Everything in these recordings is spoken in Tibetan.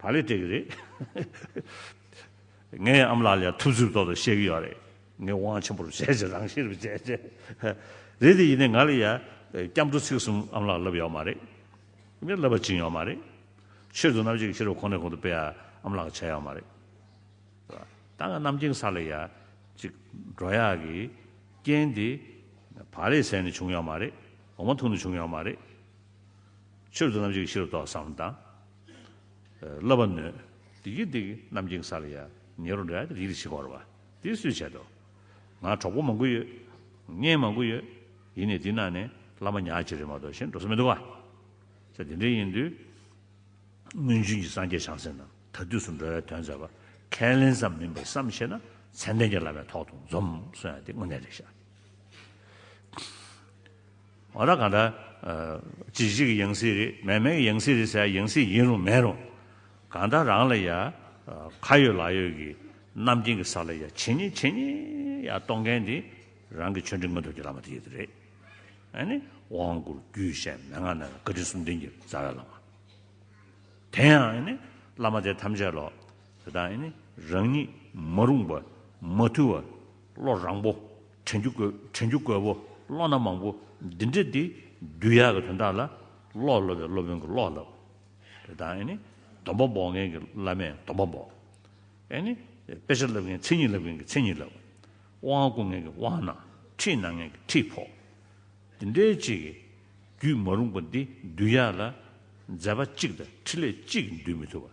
ད་ལས་སྤྲད་གི་རེད། ངའི་ཨམ་ལག་ལས་ཐུབ་ཚུབ་ཐོག་ཏུ་བཤད་གི་ཡོད་རེད། ངས་དབང་ཆེན་པོར་བྱས་ཅི་རང་ཤེས་རུ་བྱས་ཅི། རེད་དེ་ཡིན་ནའི་ང་ལ་ཡ། སྐྱབས་འགྲོ་ཚིག་གསུམ་ཨམ་ལག་ལབ་ཡོག་མ་རེད། མི་ལབ་པ་བྱིན་ཡོག་མ་རེད། ཆོས་དུ་རྣམ་འབྱེད་ཀྱི་ཕྱི་རོལ་གོང་ནས་གོང་དུ་སྤེལ་ཨམ་ལག་བྱས་ཡོག་མ་རེད། ད་ང་རྣམ་འགྱིང་ས་ལ་ཡ། ཅིག། འགྲོ་ཡག་གི། རྐྱེན་དེ། བ་ལས་ཟས་ནས་བྱུང་ཡོག་མ་རེད། འོ་མ་འཐུང་ནས་བྱུང་ཡོག་མ་རེད། ཆོས་དུ་རྣམ་འབྱེད་ཀྱི་ཕྱི་རོལ་ཏོག་བསམ་དང། སློབ་པར་ནུས། བདེ་གི་བདེ་གི་རྣམ་སྦྱིན་ས་ལ་ཡ། ཉེ་རུ་འདྲ་སྟེ་ཡིད་ལ་བྱེད་བོར་བ། དེ་སུས་བྱེད་དོ། ང་གྲོགས་པོ་མང་པོ་ཡོད། གཉེན་མང་པོ་ཡོད། ཡིན་ནས་འདི་གནང་ནས་བླ་མ་ཉག་གཅིག་རེད་མ་གཏོགས་གཞན་འགྲོ་ས་མི་འདུག་ག། ཚེ་འདི་འདྲའི་ཡིན་དུས། སྔོན་བྱོན་གྱི་སངས་རྒྱས་བྱང་སེམས་རྣམས་ད་དུས་སུ་འགྲོ་བའི་དོན་མཛད་པ་ཁས་ལེན་ཙམ་མིན་པར་བསམ་བཞེད་ན་མཚན་ལྡན་གྱི་བླ་མའི་ཐོག་ཏུ་འཛོམས་སོང་ཡང་དེ་དངོས་གནས་རེད་ཤག། ཨོ་ད་གང་འདྲ། ཇི་བཞིན་གྱི་ཡང་སྲིད་རེད་མེད་མེད་ཀྱི་ཡང་སྲིད་རེད་ཟེར་ཡ་ཡང་སྲིད་ཡིན་རུང་མེད་རུང། གང་འདྲ་རང་ལ་ཡ། ཁ་ཡོད་ལག་ཡོད་ཀྱི་རྣམ་མཁྱེན་གྱི་ས་ལ་ཡ་ཇི་སྙེད་ཇི་སྙེད་ཡ་གཏོང་མཁན་དེ་རང་གི་ཆོས་འབྲེལ་མངོན་རྟོགས་ཀྱི་བླ་མ་དེ་ཡོད་དོ་རེད། ཨ་ནི། དབང་བསྐུར་རྒྱུད་བཤད་མན་ངག་རྣམས་ལ་བཀའ་དྲིན་གསུམ་ལྡན་གྱི་རྩ་བའི་བླ་མ། དེ་ཡང་ཨ་ནི། བླ་མ་དེ་ཐམས་ཅད་ལོག། དེ་དག་ཨ་ནི། རང་ཉིད་མ་རུངས་པ། མ་ཐུལ་བ། བློ་རང་བོ། དྲན་རྒྱུ་དགོས་དྲན་རྒྱུ་དགོས་བོ། བློ་སྣ་མང་བོ། འདི་འདྲ་འདི། རྒྱུ་ཡག་གི་དོན་དག་ལ། བློ་སློབ་པའི་སློབ་དཔོན་གྱི་བློ་ལབ། རེ་དང་ཨེ་ནི། སྡོམ་པ་འབོག་མཁན་གྱི་བླ་མས་སྡོམ་པ་འབོག། ཨེ་ནི། དཔེ་ཆ་བསླབ་མཁན་མཚན་ཉིད་བསླབ་མཁན་གྱི་མཚན་ཉིད་བསླབ། དབང་བསྐུར་མཁན་གྱི་དབང་གནང། ཁྲིད་གནང་མཁན་གྱི་ཁྲིད་ཕོག། འདི་འདྲའི་ཅིག། རྒྱུད་མ་རུངས་པ་འདི་འདུལ་ཡག་ལ། མཛད་པ་གཅིག་དང་ཕྲིན་ལས་གཅིག་འདུལ་མི་ཐུབ་པ།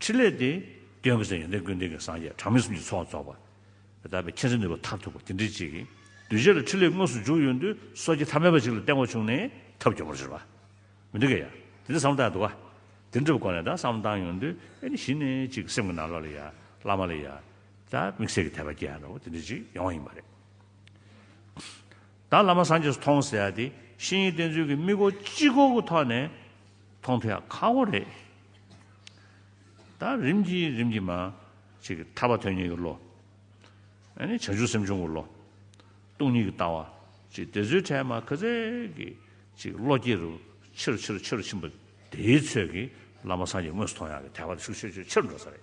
ཕྲིན་ལས་ཏེ། སྟོན་དགུ་ཚན་ཡོན་ཏན་ཀུན་ལྡན་གྱི་སངས་རྒྱས་གྲངས་མེད་གསུམ་གྱི་ཚོགས་རྫོགས་པ། དག་པའི་མཁྱེན་བརྩེ་ནུས་པ་མཐར་ཐུག་པ་དེ་འདྲའི་གཅིག། གདུལ་བྱ་ལ་ཕྲིན་ལས་དངོས་སུ་འཇུག་ཡོད་འདུན་སོ་སྐྱེ་ཐ་མལ་པ་ཞིག་ལ་སྟེང་འོག་བྱུང་ནས་ཐབས་སྐྱོ་བོར་གྱུར་པ། མི་འདུག་གི། དེ་འདྲའི་བསམ་བཏགས་འདུག་ག། དེ་འདྲ་བའི་སྒོ་ནས་དང་བསམ་བཏང་ཡོང་དུས་ཨེ་ནི་གཞི་ནས་ཅིག་སེམས་ཀྱི་ནང་ལོགས་ལ་ཡ། བླ་མ་ལ་ཡ། དང་དམིགས་བསལ་གྱི་དད་པ་སྐྱེ་ཡང་འདྲ་བོ་དེ་འདྲའི་ཅིག་ཡོང་བ་ཡིན་པ་རེད། དང་བླ་མ་སངས་རྒྱས་སུ་མཐོང་ཟེར་ཡ་དེ་ཤེས་ཡིན་བསྟན་ཚུལ་གྱི་དམིགས་སྒོ་གཅིག་སྐོར་གྱི་ཐོག་ནས། མཐོང་ཐོས་ཡང་ཁག་པོ་རེད། ད་རིམ་གྱིས་རིམ་གྱིས་མ། ཞིག་གི་ཐར་པ་དོན་གཉིས་ཀྱི་བློ། ཨ་ནི་བྱང་ཆུབ་སེམས་བྱུང་གི་བློ། སྟོང་ཉིད་ཀྱི་ལྟ་བ། ཅིག་དེ་ཚོའི་གྲས་མ་ཁ་ཟས་ཀྱི། ཅིག་བློ་སྐྱེ་རུ་ཕྱིར་ཕྱིར་ཕྱིར་ཕྱིན་པ། དེའི་ཚོད་ཀྱིས་བླ་མ་སངས་རྒྱས་དངོས་སུ་མཐོང་ཡག་གི་དད་པ་དེ་ཤུགས་ཆེ་ཆེ་ཆེར་འགྲོ་ས་རེད།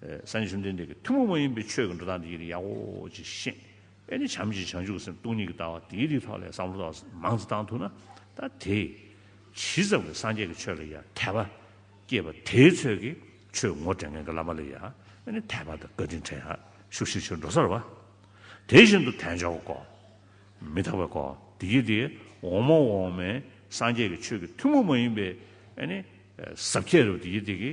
ས་ནི་བཅོམ་ལྡན་འདས་ཀྱི་ཐུན་མོང་མ་ཡིན་པའི་ཆོས་ཀྱི་འགྲོ་སྟངས་འདི་ཡི་རིགས་ཡག་གོ་ཅེས་བཤད། དཔེ་ནི་བྱམས་ཀྱིས་བྱང་ཆུབ་ཀྱི་སེམས་སྟོང་ཉིད་ཀྱི་ལྟ་བ་དེའི་རིགས་ལྷག་ལས་བསམ་བློ་དག་མང་དུ་བཏང་ཐུབ་ན་ད་དེ་ཇི་ཙམ་གྱིས་སངས་རྒྱས་ཀྱི་ཆོས་ལ་ཡང་དད་པ་སྐྱེས་པ་དེའི་ཚོད་ཀྱིས་ཆོས་ངོ་སྤྲད་མཁན་གྱི་བླ་མ་ལ་ཡང་ནི་དད་པ་དང་བཀའ་དྲིན་དྲན། ཤུགས་ཤིག་ཕྱིར་འགྲོ་སར་བ། དེ་བཞིན་དུ་དལ་འབྱོར་བ་ཀོ། མི་ཐག་པའི་ཀོ། འདི་ཀྱི་དེ་འོག་མ་འོག་མའི་སངས་རྒྱས་ཀྱི་ཆོས་ཀྱི་ཐུན་མོང་མ་ཡིན་པའི་ཟབ་ཁྱད་རུ་དེ་ཀྱི་དེ་ཀྱི།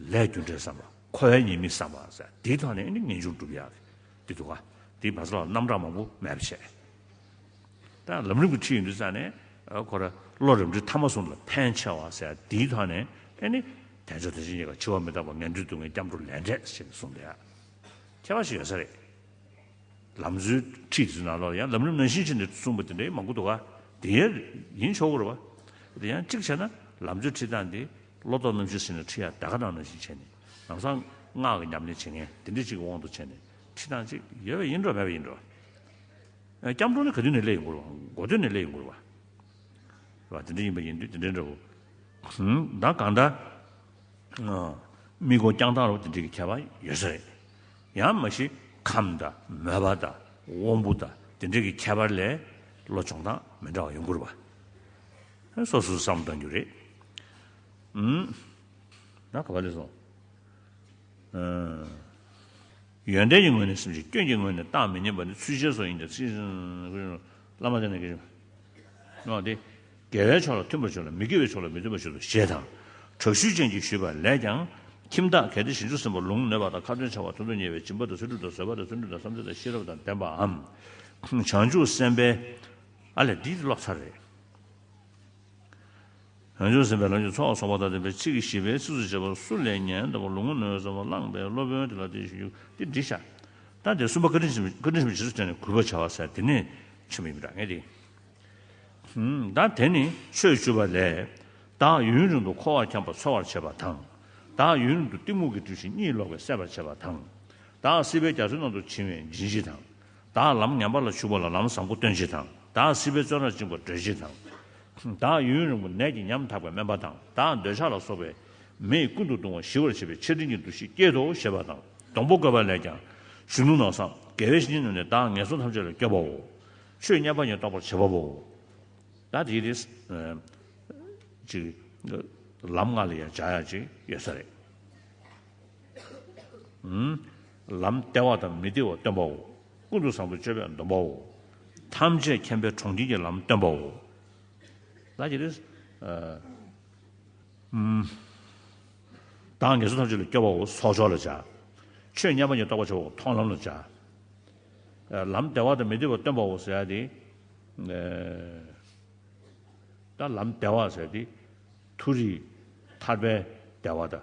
ལས་རྒྱུ་འབྲས་བསམ་པ་འཁོར་བའི་ཉེས་དམིགས་བསམ་པ། དེ་དག་ནི་ངེས་འབྱུང་བསྒྲུབ་ཡག་གི་འདུག་དེ་བ་ཚ་ལ་རྣམ་གྲངས་མང་པོ་མེད་པ་བྱས། ད་ལམ་རིམ་གྱི་ཁྲིད་ཡིན་དུས་ཙམ་ནས་ཁོ་ར་བློ་རིམ་གྲོས་ཐ་མ་སོང་ལ་ཕན་ཆེ་བ། དེའི་ཐོག་ནས་ཨེ་ནི་དལ་འབྱོར་དེ་བཞིན་གཉིས་ཀ་འཆི་བ་མི་རྟག་པ་ངན་འགྲོའི་སྡུག་བསྔལ་སྐྱབས་འགྲོ་ལས་འབྲས་ཞེས་ནས་གསུངས་པའི་ཁྱད་པར་ཞིག་ཡོད་ས་རེད། ལམ་བཟོའི་ཁྲིད་དེ་ཚོའི་ནང་ལ་ཡང་ལམ་རིམ་ནང་བཞིན་བྱས་ནས་གསུངས་པ་དེ་འདྲ་ཡང་མང་པོ་འདུག་དེ་ཡང་ཡིན་ཆོག་གོ་རེད་བ། དེ་ཡང་གཅིག་བྱས་ན་ལམ་བཟོའི་ཁྲིད་སྟངས་དེ་བློ་ལྡོག་རྣམ་བཞི་ཟིན་ནས་ཁྲི་ཡར་དལ་ཁ་གདངས་ནས་ཞེས་བྱས་ནས། རང་སངས། སྔགས་ཀྱི་ཉམས་ལེན་བྱེད་ངེས་དེ་འདྲི་གཅིག་གི་དབང་དུ་བྱས་ནས། ཁྲི་གདངས་གཅིག། ཡོད་པ་ཡིན་འགྲོ་མེད་པ་ཡིན་འགྲོ། སྐྱབས་འགྲོ་ནི་ག་དུས་ནས་སླད་ཡིན་འགོར་བ། འགོ་དུས་ནས་སླད་ཡིན་འགོར་བ། བ། དེ་འདྲ་ཡིན་པ་ཡིན་དུས་དེ་འདྲའི་འདྲ་བོ། བདག་གང་འདྲ། དམིགས་སྒོ་བསྐྱང་སྟངས་རོ་དེ་འདྲའི་ཁྱད་པར་ཡོད་ས་རེད། ཡང་མ་གཞི་ཁམས་དང་མོས་པ་དང་དབང་པོ་དང་དེ་འདྲའི་ཁྱད་པར་ལས། བློ་སྦྱོང་སྟངས་མི་འདྲ་བ་ཡོད་འགོར་བ། ཧེ་སོ་སོའི་བསམ་གཏང་རྒྱུ་རེད། ན་ག་བ་ལས་སོང། ཡོན་ཏན་གྱི་ངོས་ནས་སེམས་ཅན་སྐྱོན་གྱི་ངོས་ནས་བཏང་མི་ཉན་པ་ནི་ཚུལ་འཆལ་སོགས་ཡིན་ཏེ་ཚིག་བཞིན་བླ་མ་དེ་ནས་དགེ་སྦྱོང་སྟེ། དགེ་བའི་ཕྱོགས་ལ་མཐུན་པར་བྱོས་ལ་མི་དགེ་བའི་ཕྱོགས་ལ་མི་མཐུན་པར་བྱོས་སོ་ཞེས་དང། དྲག་ཤུལ་ཅན་གྱིས་ཞུས་པ་ལས་ཀྱང། ཁྱིམ་བདག་གལ་ཏེ་ཞིང་ཆུ་སིམ་པོར་ལུང་ནོད་པ་དང་ཁ་ཏོན་ཆེ་བ་དུ་དུ་ཉེ་བའི་སྦྱིན་པ་དང་ཚུལ་ཁྲིམས་དང་བཟོད་པ་དང་བརྩོན་འགྲུས་དང་བསམ་སྟོན་དང་ཤེས་རབ་དང་ལྡན་པའམ། བྱང་ཆུབ་སེམས་དཔའི། ཨ་ལས་འདི་ཀློག་ཚར་རེད། རང་བྱུང་སེམས་དཔའི་ལམ་གྱི་ཚོགས་གསོག་པ་དང་ལྡན་པའི་ཚིག་གི་བཞི་པའི་ཚིགས་སུ་བཅད་པ་སུ་ལས་ཉན་ད་པོ་ལུང་ངོ་ནོན་ཟབ་མོ་བླངས་པའི་སློབ་དཔོན་དེ་ལ་དེ་བཞིན་གྱུར་ཏེ་འདི་བྱ། ད་དེ་གསུམ་པ་བཀའ་དྲིན་ཆེན་པོ་རྗེས་སུ་དྲན་ནས་གུས་པར་བྱ་བ་ཟད་དེ་ནས་ཆེན་པོ་ཡིན་པར་ངེས་ཏེ། ད་དེ་ནི་ཆོས་བཅུ་པ་ལས། བདག་ཡུན་རིང་དུ་འཁོར་བར་འཁྱམས་པ་ཚོལ་བར་བྱེད་པ་དང། བདག་ཡུན་རིང་དུ་གཏི་མུག་གིས་བཀྲུས་ཤིང་གཉིད་ལོག་པས་སད་པར་བྱེད་པ་དང། བདག་སྲིད་པའི་རྒྱ་མཚོའི་ནང་དུ་བྱིང་བའི་འབྱིན་བྱེད་དང། བདག་ལམ་ངན་པ་ལ་ཞུགས་པ་ལ་ལམ་བཟང་པོ་སྟོན་བྱེད་དང། བདག་སྲིད་པའི་བཙོན་རར་བཅིངས་པར་སྒྲོལ་བྱེད་དང། བདག་ཡུན་རིང་པོ་ནད་ཀྱིས་ཉམ་ཐག་པའི་སྨན་པ་དང། བདག་འདོད་ཆགས་ལ་སོགས་པའི། མེས་ཀུན་ཏུ་གདུང་བ་ཞི་བར་བྱེད་པའི་ཆེ་འབྲིང་གི་འདུ་ཤེས་བསྐྱེད་དོ་ཞེས་པ་དང། སྡོང་པོ་བཀོད་པ་ལས་ཀྱང། གཞོན་ནུ་ནགས་སམ། དགེ་བའི་བཤེས་གཉེན་ནོ་ནས་བདག་ངན་སོང་ཐམས་ཅད་ལ་སྐྱོབ་པའོ། ཆོས་མཉན་པ་ཉིད་རྟོགས་པར་བྱེད་པ་པོའོ། ད་དེའི་རེས། ཅིག། ལམ་ལྔ་ལ་ཡང་བྱ་ཡག་ཅིག་ཡོད་ས་རེད། ལམ་སྟེར་བ་དང་མི་སྟེར་བ་སྟོན་པའོ། ཀུན་ཏུ་བཟང་པོའི་སྤྱོད་པས་འདོམས་པའོ། ཐམས་ཅད་མཁྱེན་པའི་གྲོང་ཁྱེར་གྱི་ལམ་སྟོན་པའོ། བདག་ངལ་སོང་ཐམས་ཅད་ལ་སྐྱོ་བའོ་གསོག་འཇོག་ལ་བྱ། ཆོས་མཉམ་པ་ཉིད་རྟོགས་པར་བྱ་བའོ་མཐོང་ལམ་ལ་བྱ། ལམ་སྟེར་བ་དང་མི་སྟེར་བ་སྟོན་པའོ་ཟེར་ཏེ། ལམ་སྟེར་བ་ཟེར་ཏེ། མཐོ་རིས་ཐར་པའི་སྟེར་བ་དང།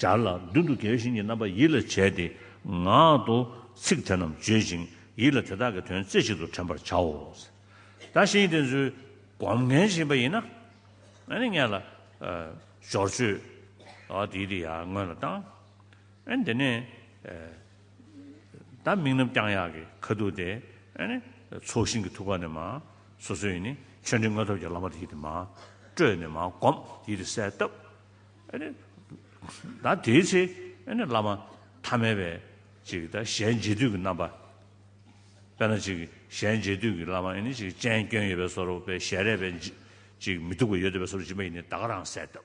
སྦྱར་ལ། མདུན་དུ་དགེ་བའི་བྱིན་གྱི་རྣམ་པ་ཡིད་ལ་བྱས་ཏེ། ངག་ཏུ་ཚིག་དེ་རྣམས་བརྗོད་ཅིང་ཡིད་ལ་དེ་དག་གི་དོན་རྩེ་གཅིག་ཏུ་དྲན་པར་བྱའོ། བདག་གཞན་དེ་ཚོའི་སྒོམ་ངན་བྱེད་པ་ཡིན་ན། ནི་ངེད་ལ། སྦྱོར་བཅོས། དེའི་དེ་ཡང་སྔོན་ལ་བཏང། དེ་ནས། བདག་མིག་རྣམས་ཀྱང་གཡག་གི་ཁ་དུག་སྟེ། ཚོགས་ཞིང་གི་ཐུགས་ཀ་ནས་མ། སོ་སོའི་ནི། ཆོས་འབྲིང་ལྔ་ཐོབ་ཀྱི་བླ་མ་དེའི་དེ་མ། སྤྲོས་ནས་མ་བསྒོམ་དེའི་དེ་གསལ་བཏབ། ད་དེའི་ཚེ་བླ་མ་ཐ་མལ་པའི་ཅིག་ད་ཞལ་མཇལ་དུས་ཀྱི་རྣམ་པ། དཔེར་ན་ཅིག་ཞལ་མཇལ་དུས་ཀྱི་བླ་མ་ནི་ཅིག་ཅན་སྐྱོན་ཡོད་པའི་སོར་བས་ཞལ་རས་པས་ཅིག་མི་སྡུག་པ་ཡོད་དོ་པའི་སོར་སྦྱིན་པ་ཡིན་ནི་ད་ག་རང་གསལ་གདབ།